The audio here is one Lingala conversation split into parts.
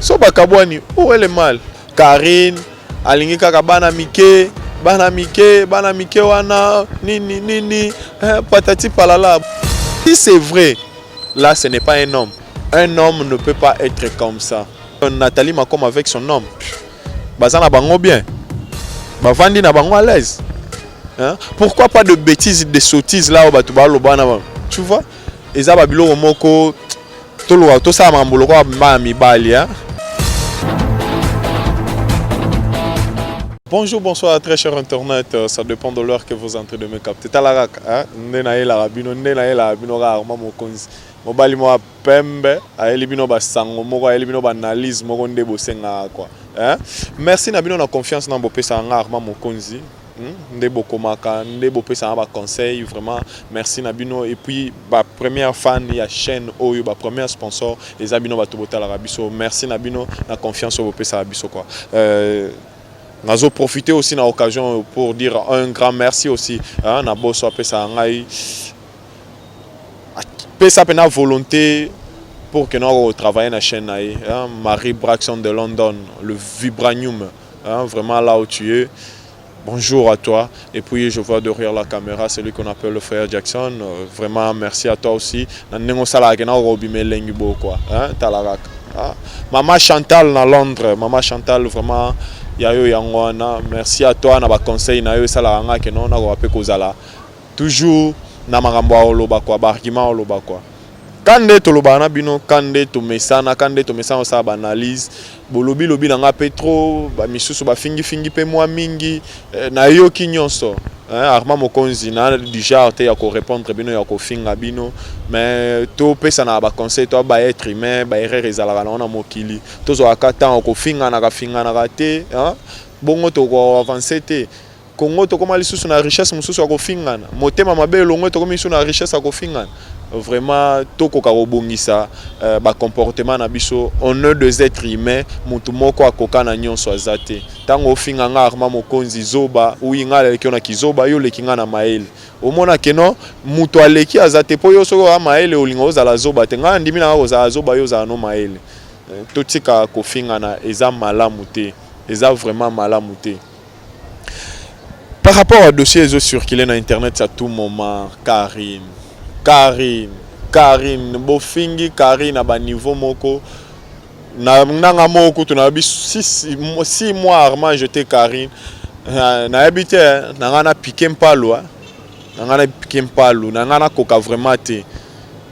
so bakabwani où est le mal Carine alingi kaka bana mike bana mike bana mike wana nini nini eh, patati palala si c'est vrai là ce n'est pas un homme un homme ne peut pas être comme ça Nathalie Macom avec son homme baza na bango bien bavandi na bango à l'aise hein? pourquoi pas de bêtises de sottises là oyo bato baloba na bango tu vois eza babiloko moko Toluka tosala makambo lokola bana mibali hein? Bonjour, bonsoir, très cher internet. Euh, ça dépend de l'heure que vous entrez de me capter. Talarak, hein? Nena ela rabino, nena ela rabino rarement mokonzi. Mobali moi pembe, ayeli bino ba sango moko, ayeli bino ba analyse moko nde bosenga quoi. Hein? Merci na bino na confiance na bopesa nga rarement mokonzi. nde bokomaka nde bopesaka ba conseil vraiment merci na bino et puis ba première fan ya chaîne oyo ba première sponsor eza bino bato botalaka biso merci na bino na confiance oyo bopesaka biso quoi euh, nazo profiter aussi na occasion pour dire un grand merci aussi hein, na boso apesaka ngai apesa mpe na volonté pour que nako travailler na chaîne na ye hein, marie braxon de london le vibranium Hein, vraiment là où tu es. Bonjour à toi. Et puis je vois derrière la caméra celui qu'on appelle le frère Jackson. Euh, vraiment merci à toi aussi. Na nengo sala ke na robi melengi bo quoi. Hein, talarak. Ah. Maman Chantal na Londres, maman Chantal vraiment ya yo yango wana. Merci à toi na ba conseil na yo sala nga ke non na ko pe kozala. Toujours na makambo oloba quoi, ba argument oloba quoi. Kande tolobaka na bino kande tomesana kande tomesana kosala baanalyse bolobi lobi na ngai mpe trop bamisusu bafingifingi mpe mwa mingi eh, nayoki nyonso eh, arma mokonzi na du genre te ya korepondre bino ya kofinga bino mais topesanaka baconseil to ba être humain baerreur ezalaka nango na mokili tozwaka ntango kofinganaka finganaka te eh, bongo tokoavanse te Congo tokoma lisusu na richesse mosusu ya kofingana motema mabe elongwe tokomi lisusu na richesse ya kofingana vraiment tokoka kobongisa uh, bacomportement na biso honneur des êtres humains motu moko akoka na nyonso aza te ntango ofinga nga arma mokonzi zoba uyi ngai aleki yo na kizoba yo oleki ngai na mayele omona keno motu aleki aza te mpo yo soki oya mayele olinga ozala zoba te ngai andimi nanga kozala zoba yo ozala no mayele eh, totika kofingana eza malamu te eza vraiment malamu te Par rapport à dossier ezo circuler na internet à tout moment, Karine, Karine, Karine, bofingi Karine à bas niveau moko. Na nanga moko kutu na bi 6 6 mois armand jeté Karine. Na habité hein, na nga na piquer mpalwa. Na nga na piquer mpalwa, na nga na koka vraiment te.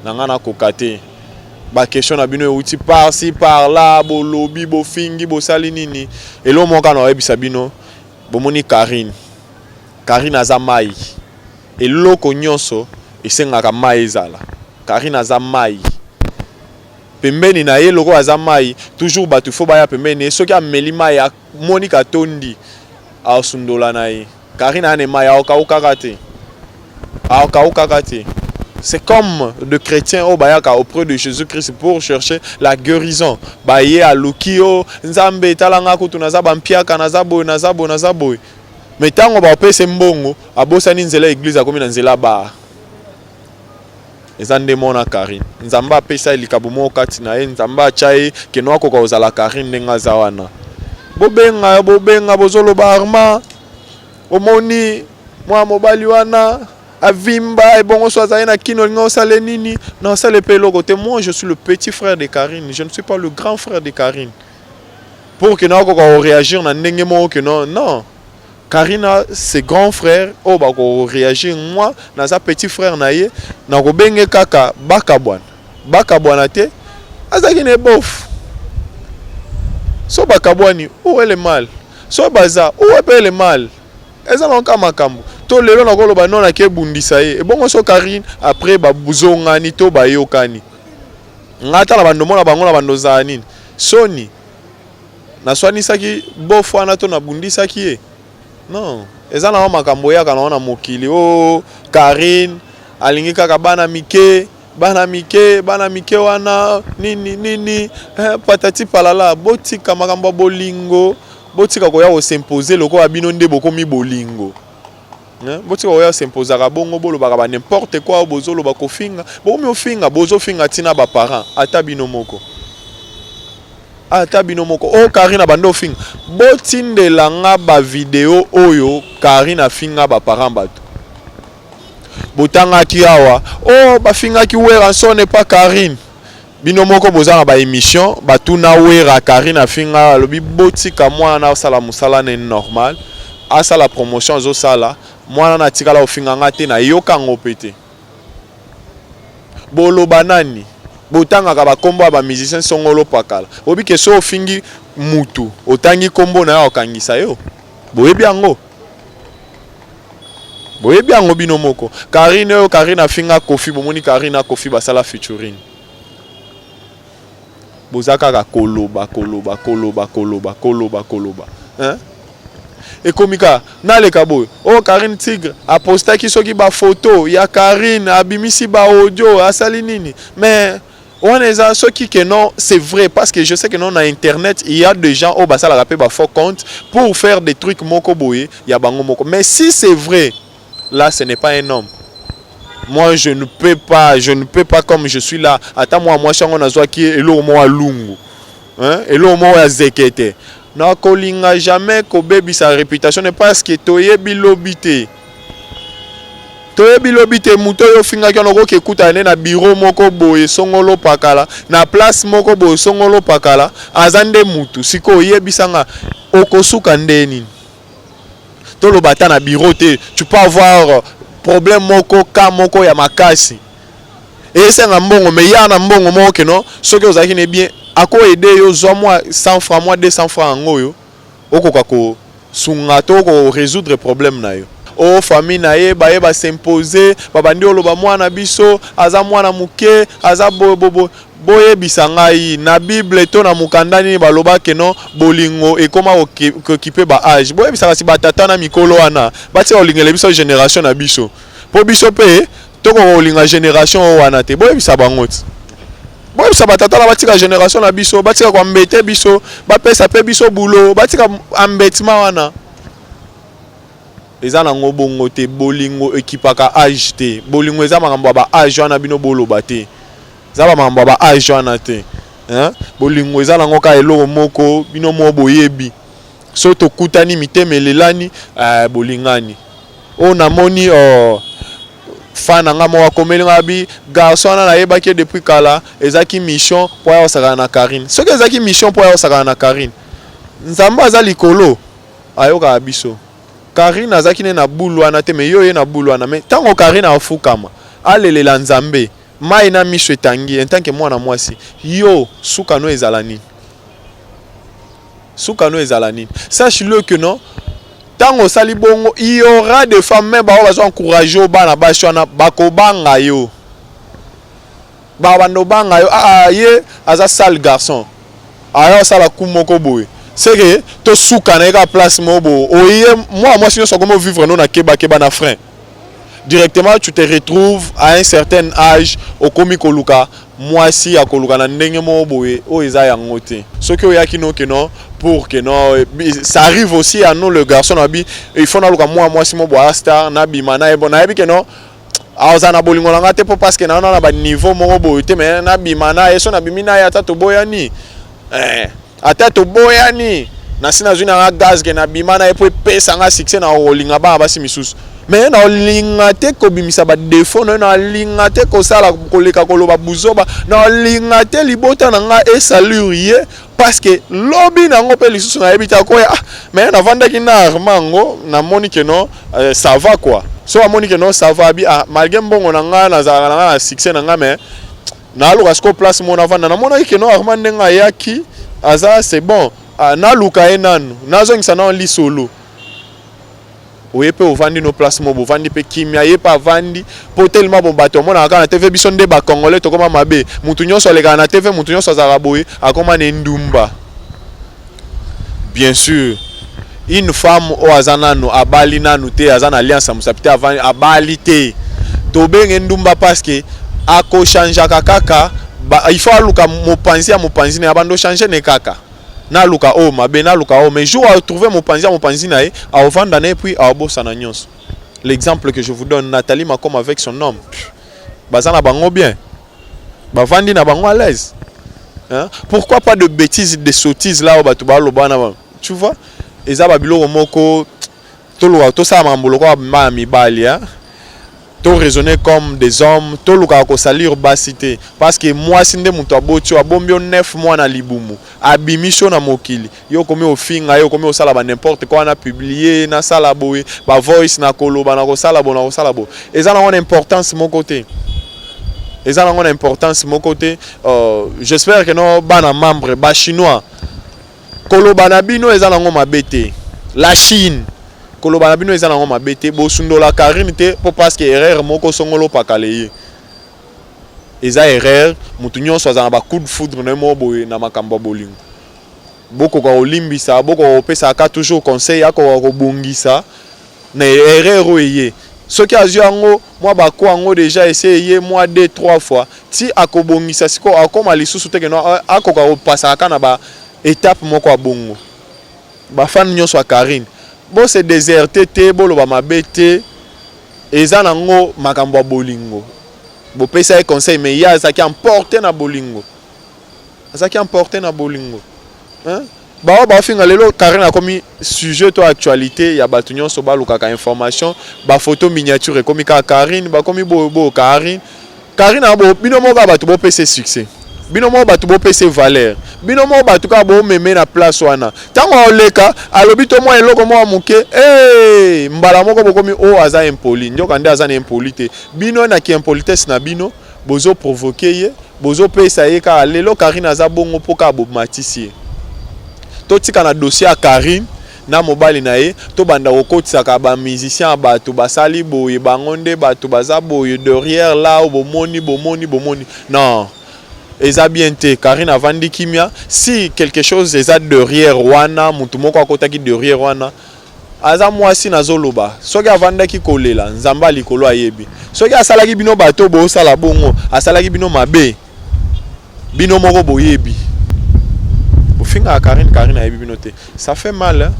na nga na koka te ba question na bino euti par ci par là bolobi bofingi bosali nini elo moka na oyebisa bino bomoni Karine Karine aza mai eloko nyonso esengaka mai ezala Karine aza mai pembeni na ye lokola aza mai toujours bato fo baya pembeni ye soki ameli mai amoni katondi aosundola na ye Karine ane mai aokaukaka te aokaukaka te c'est comme de chrétiens oyo bayaka auprès de jésus christ pour chercher la guérison baye aluki yo nzambe etala nga kutu naza bampiaka naza boye naza boye naza boye me ntango baopese mbongo abosani nzela ya eglize akomi na nzela baa Eza nde muana carine nzambe apesa ye likabo moko kati na ye nzambe atia ye keno akoka kozala carine ndenge aza wana bobenga bobenga bozoloba arma omoni muana mobali wana avimba ebongo so azali na kino olingi osale nini na osale pe eloko te moi je suis le petit frère de carine je ne suis pas le grand frère de carine pour que na akoka koreagir na ndenge moko que non non Carine a ses grands frères oyo oh, bako reagir moi naza petit frère na ye nako benge kaka bakabwana bakabwana te azalaki na ebof so bakabwani où est le mal so baza où est pe le mal eza na kaka makambo to lelo nakoloba non nake ebundisa ye ebongo so Carine après babuzongani to bayokani ngai ata na bando mona bango na bando ozala nini soni naswanisaki bof wana to nabundisaki ye non eza na wa makambo oyaka na wana mokili o oh, karine alingi kaka bana mike bana mike bana mike wana nini nini eh, patati palala botika makambo ya bolingo botika koya kosimpose lokola bino nde bokomi bolingo Hein? Botika koya s'imposaka bongo bolobaka ba n'importe quoi bozoloba kofinga bokomi ofinga bozofinga ti na ba parents ata bino moko ata bino moko o oh, Karine abanda ofinga botindela nga ba video oyo Karine afinga ba parents bato botangaki awa o oh, bafingaki Werrason epa Karine Bino moko boza na ba emission batuna wera Carine afinga alobi botika mwana asala musala ne normal asala promotion azosala mwana na atikala kofinga nga te nayoka yango pe te boloba nani botangaka bakombo ya ba musicien songolo pakala bobi ke so ofingi mutu otangi kombo na yo akangisa yo boyebi yango Boyebi yango bino moko. Karine oyo Karine afinga Kofi, bomoni Karine na Kofi basala featuring. Boza kaka koloba koloba koloba koloba koloba koloba. Hein? ekomi kaka naleka boye oyo oh, karine tigre apostaki soki bafoto ya karine abimisi baaudio asali nini mais Wana eza soki que non c'est vrai parce que je sais que non na internet il y a des gens au basala rape ba faux compte pour faire des trucs moko boye ya bango moko mais si c'est vrai là ce n'est pas un homme moi je ne peux pas je ne peux pas comme je suis là ata moi moi chango na zwa ki elo mo lungu hein elo mo ya zekete na kolinga jamais ko baby sa réputation ne parce que toye bilobité Toyebi lobi te moto oyo ofingaki wana okoki ekutana nde na biro moko boye songolo pakala na place moko boye songolo pakala aza nde motu sikoyo yebisa nga okosuka nde nini toloba ata na biro te tu peux avoir problème moko ka moko ya makasi esenga mbongo me ya na mbongo moko keno soki ozalaki na bien ako aide yo zwa mwa 100 franc mwa 200 franc yango oyo okoka ko sunga to ko resoudre problème na yo. Oh famille na ye baye ba s'imposer ba bandi oloba muana na biso aza muana muke aza boye boye boye boyebisa ngai na bible to na mukanda nini baloba que non bolingo ekoma ko kipe ba age boyebisa kasi ba tata na mikolo wana batika kolingele biso generation na biso po biso pe Tokoka kolinga generation oyo wana te, boyebisa bango ti boyebisa batata na batika generation na biso batika koambete biso bapesa mpe biso bulo batika ambetima wana eza nango bongo te bolingo ekipaka age te bolingo eza makambo ya ba age wana bino boloba te eza ba makambo ya ba age wana te hein? bolingo eza nango kaka eloko moko bino moko boyebi Soki tokutani mitema elelani eh, bolingani oyo oh, namoni oh, fan na nga moko akomeli nga bi garçon wana nayebaki ye depuis kala ezalaki mission mpo aya kosakana na karine soki ezalaki mission mpo aya kosakana na karine nzambe aza likolo ayokaka biso karine azalaki ne na bulu wana te me yo oye na bulu wana me ntango karine afukama alelela nzambe mai na miso etangi entanke mwana mwasi yo suka no ezala nini suka no ezala nini sache le que non ntango osali bongo il y aura des femmes me baoyo bazo encourage yo bana basi wana bakobanga yo babanda obanga yo ah, ah ye aza sale garçon aya osala ku moko boye seke tosuka na ye kaka place moko boye oye mwa mwasi nyonso akomi ovivre no na kebakeba na frein directement tu te retrouves à un certain âge okomi koluka mwasi ya koluka na ndenge moko boye oyo eza yango te soki oyaki no ke non pour que non eh, ça arrive aussi à nous le garçon na bi il faut naluka mwa mwasi mo boya star nabima na ye bon nayebi ke non aza ah, na bolingo na ngai te mpo parceke naona na baniveau moko boye te me nabima na ye so nabimi na ye ata toboyani eh. Ata toboyani, nasi nazwi na nga gaz ke nabima na ye mpo epesa nga succès na kolinga bana basi misusu. Mais na olinga te kobimisa ba defaut na yo, na olinga te kosala koleka koloba buzoba, na olinga te libota na nga e salir ye parce que lobi na yango mpe lisusu nayebi te akoya. Ah, mais navandaki na Armand ngo, namoni ke no euh, ça va quoi. So amoni ke no ça va abi ah malgré mbongo na nga nazalaka na nga na succès na nga mais naluka siko place mona avanda namonaki keno arma ndenge ayaki aza c'est bon ah, naluka ye nanu nazongisa nano lisolo oye mpe ovandi no place moko bovandi mpe kimia ye mpe avandi mpo telema bo bato amonaka kaka na tv biso nde bacongolais tokoma mabe moto nyonso alekaka na tv moto nyonso azalaka boye akoma na endumba Bien sur une femme oyo aza nanu abali nanu te aza na alliance ya mosapi te abali te tobenge ndumba paske akochangeaka kaka il faut aluka mopanzi ya mopanzi na ya bando change ne kaka naluka oyo oh, mabe naluka oyo oh, mais jour atrouve mopanzi ya mopanzi na ye aovanda na ye puis aobosana nyonso l'exemple que je vous donne nathalie macom avec son homme baza na bango bien bavandi na bango à l'aise hein? pourquoi pas de bêtises de sottises là oyo bato baloba na bango tu vois eza babiloko moko tolukaka tosala makambo lokola bana mibali hein? to raisonner comme des hommes tolukaka kosalir basi te parce que mwasi nde moto aboti oyo abombi yo 9 mois na libumu abimisi yo na mokili Yo okomi ofinga ye, okomi osala ba n'importe quoi, na publier, nasala boye, ba voice, nakoloba, nakosala boye, nakosala boye. Eza nango na importance moko te. Eza nango na importance moko te. Euh, J'espère que no bana membre ba chinois koloba na bino eza nango mabe te. La Chine koloba na bino eza nango mabe te. Bosundola Carine te po parce que erreur moko songolo pakale ye. Eza erreur, mutu nyonso azala na ba coups de foudre na ye moko boye na makambo ya bolingo. bokoka kolimbisa, bokoka kopesa ka toujours conseil, akoka kobongisa na erreur oyo eye. Soki azwi yango mwa ba coups yango dejà esi eye mwa deux trois fois, ti akobongisa sikoyo akoma lisusu te que non akoka kopasaka ka na ba etape moko ya bongo. Ba fans nionso ya Carine bo se deserter te, boloba mabe te, eza nango makambo ya bolingo. Bopesa ye conseil mais ye azalaki emporter na bolingo azalaki emporte na bolingo hein? baoyo bafinga lelo karine akomi sujet to actualité ya bato nyonso balukaka information bafoto miniature ekomi kaka karine bakomi boyoboyo karine karine abo bino moko kaka bato bopese succès bino moko bato bopese valeur bino moko bato kaka bomeme na place wana ntango aoleka alobi to mwa eloko moko moke hey! mbala moko bokomi o oh, aza impoli nyoka nde aza na impoli te bino na kiimpolitesse na bino Bozo provoquer ye, bozo pesa ye kaka lelo Carine aza bongo po kaka bo matisi ye. To tika na dossier ya Carine na mobali na ye to banda ko kotisaka ba musiciens ya batu ba sali boye bango nde batu baza boye derrière là haut bo moni bo moni bo moni non eza bien te Carine avandi kimia si quelque chose eza derrière wana mutu moko akotaki derrière wana Aza mwasi nazo loba soki avandaki kolela nzambe ya likolo ayebi soki asalaki bino bato bosala bongo asalaki bino mabe bino moko boyebi bofingaka Karine Karine ayebi bino te ça fait mal hein?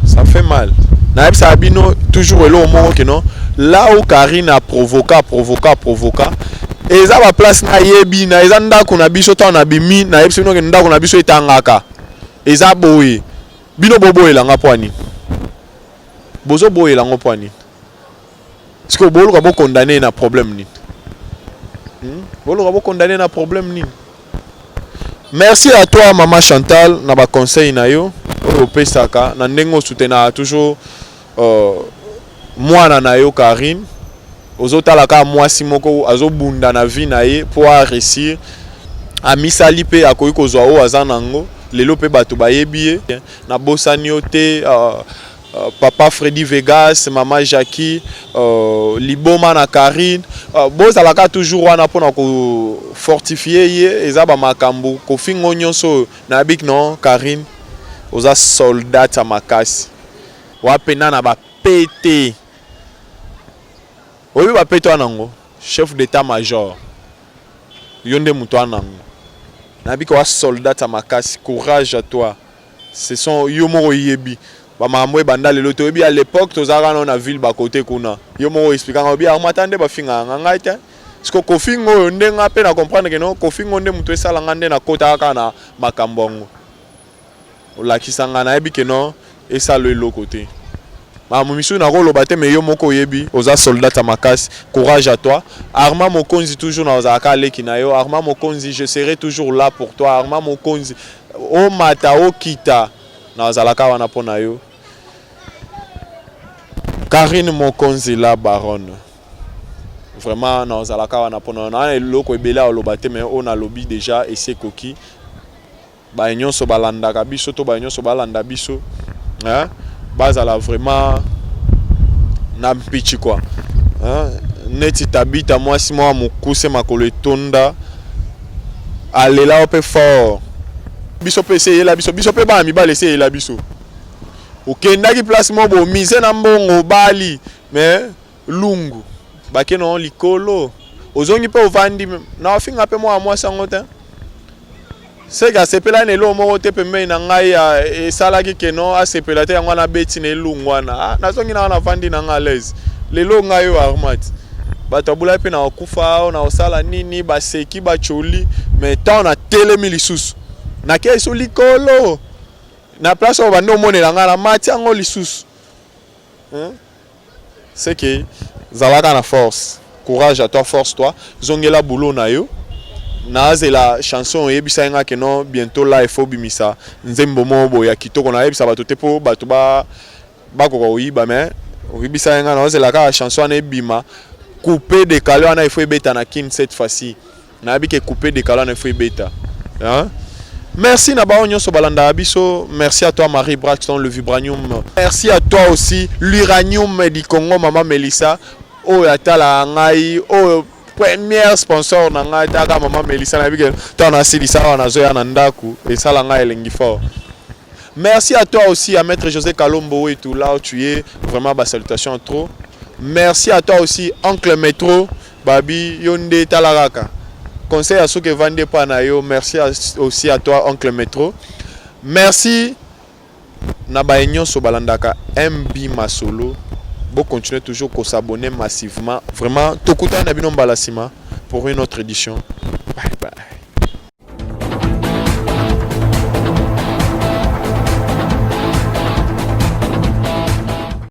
ça fait mal nayebisaka bino toujours eloko moko kino là où Karine a provoka provoka provoka eza baplace nayebi na eza ndako na biso ntango na bimi nayebisi bino ke ndako na biso etangaka Eza boye. Bino boboyela nga mpo ya nini? Bozoboyela yango mpo ya nini? Sikoyo boluka bokondane ye na problème nini? Hmm? Boluka bokondane ye na problème nini? Merci à toi maman Chantal na ba conseils na yo oyo opesaka na ndenge osutenaka toujours Oh mwana na yo Carine ozotala kaka mwasi moko azobunda na vie na ye mpo a réussir amisali mpe akoki kozwa oyo aza na yango lelo mpe bato bayebi ye nabosani yo te uh, uh, papa Freddy Vegas mama Jackie uh, liboma na Karine uh, bozalaka toujours wana mpo na kofortifie ye eza bamakambo kofingo nyonso oyo nayebiki non Karine oza soldate ya makasi Wapi na na ba pete? Oyebi ba pete wana ngo? Chef d'etat major. Yo nde moto wana ngo. Na bika wa soldat ya makasi, courage à toi. Ce sont yo moko yebi. Ba makambo ebanda lelo te. Oyebi à l'epoque tozalaka na na ville ba côté kuna. Yo moko expliquer nga oyebi Armata nde ba finga nga ngai te. Siko Kofi ngo oyo nde nga pe na comprendre que non Kofi ngo nde moto esala nga nde na kota kaka na makambo ngo. Olakisa nga nayebi que non esala yo eloko te. Makambo misusu nako loba te mais yo moko oyebi oza soldate ya makasi. Courage à toi. Armand Mokonzi toujours nakozala kaka leki na yo. Armand Mokonzi je serai toujours là pour toi. Armand Mokonzi omata okita nakozala kaka wana mpo na yo. Carine Mokonzi la baronne. Vraiment nakozala kaka wana mpo na yo. Na eloko ebele ya koloba te mais oyo nalobi dejà esi ekoki. baye nyonso balandaka biso to baye nyonso balanda biso hein? bazala vraiment na mpichi kwa hein? neti tabita mwasi mwa mokuse makolo etonda alela yo mpe fort biso mpe eseyela biso biso mpe bana mibali eseyela biso okendaki place moko bomise na mbongo obali mais Lungu bake no likolo ozongi mpe ovandi na ofinga mpe mwana mwasi yango te seke asepela na eloko moko te pembeni na ngai esalaki keno asepela te yango wana abeti na elungu wana ah, nazongi na wana vandi na ngai alaise lelo ngai oyo armat bato abulaki mpe na kokufa awa na kosala nini baseki bacoli me ntango natelemi lisusu nakei so likolo na place oyo bandi omonela ngai na mati yango lisusu ce que zalaka na force courage à toi force toi zongela boulot na yo nazela chanson oyebisaki nga ke non bientôt là il faut bimisa nzembo moko boye ya kitoko nayebisa bato te mpo bato ba bakoka koyiba mais oyebisaki nga naozela kaka chanson wana ebima coupe decale wana il faut ebeta na kin cette fois-ci nayebi ke coupe de kalana faut ebeta hein? Merci na baon nyonso balanda biso. Merci à toi Marie Braxton le vibranium. Merci à toi aussi l'uranium du Congo maman Melissa. Oh ya tala ngai oh première sponsor na ngai taka maman Melissa na bike to na silisa wana zo ya na ndaku et sala ngai elengi fort. Merci à toi aussi à maître José Kalombo wetu là où tu es vraiment ba salutations trop. Merci à toi aussi oncle Metro. Baby yo nde tala kaka. Conseil ya suka evandi epa na yo merci aussi à toi oncle metro merci na baye nyonso balandaka MB masolo bo continuer toujours ko s'abonner massivement vraiment tokutani na bino mbala sima pour une autre édition bye bye